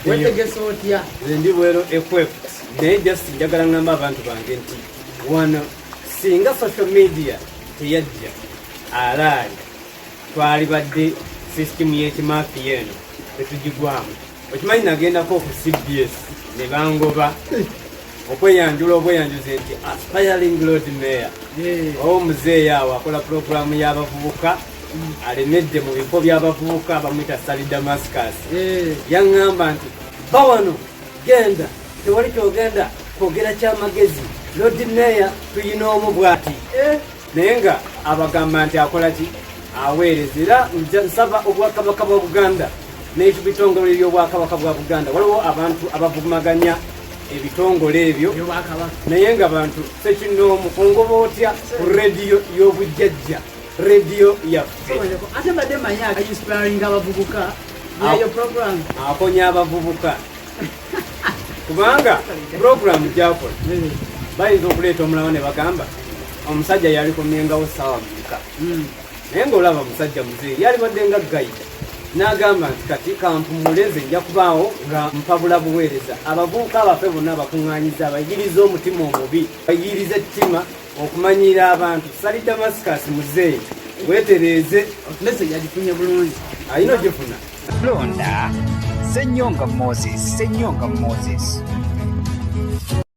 wetegesa otya ndi bwero ekwef naye just njagala ngamba abantu bange nti wano singa social media teyajja alaali twalibadde system yekimafi eno tetugigwamu okimanyi nagendako ku cbs ne bangoba okweyanjula obweyanjuzi nti aspiring lord mayor owo muzeeyi awo akola pulogulaamu y'abavubuka alemedde mu bifo by'abavubuka bamuyita sali damascus eh. yaŋŋamba nti ba wano genda tewali kyogenda kwogera kyamagezi lodi meya tuyina omu bwati eh. naye nga abagamba nti akola ki aweereza era nsaba obwakabaka bwa buganda n'ekibitongole by'obwakabaka bwa buganda waliwo abantu abavumaganya ebitongole ebyo naye nga bantu sekinoomu ongoba otya ku rediyo y'obujjajja radio yaffe ate mbadde manyi inspiring abavubuka yayo program akonya abavubuka kubanga program gyakola hmm. bayinza okuleeta omulawo ne bagamba omusajja yali kumyengawo saawa muka hmm. naye ngaolaba musajja muzee yali badde nga gayita n'agamba nti kati kampumuleze nja kubaawo nga mpabula buweereza abavubuka abaffe bonna abakuŋŋanyiza abayigiriza omutima omubi bayigiriza ettima okumanyiira abantu sali damascus muzeeyi wetereeze message agifunye bulungi alina ogifuna londa senyonga moses senyonga moses